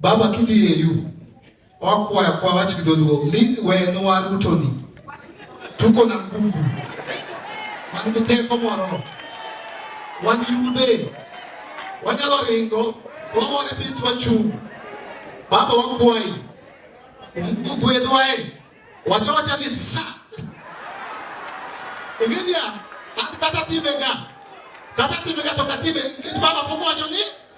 Baba kidhi e yu wakwaya kwa wach gi dholuo ni wenwa Ruto ni tuko na nguvu wan gi teko moro wan gi yudhe wanyalo ringo wawore piny twachung' baba wakwayi gwedhwae wacha wacha ni sa ingenia an kata timega kata timega to katime nikech baba pok wacho ni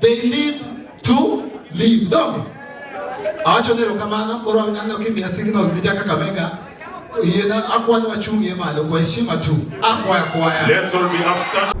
They need to live. Dog. Awacho ni erokamano, koro aneno kimiya signal gi jaka Kakamega. Yiena akwani wachung'ie malo kwa heshima tu. Akwaya kwaya. Let's all be upstanding.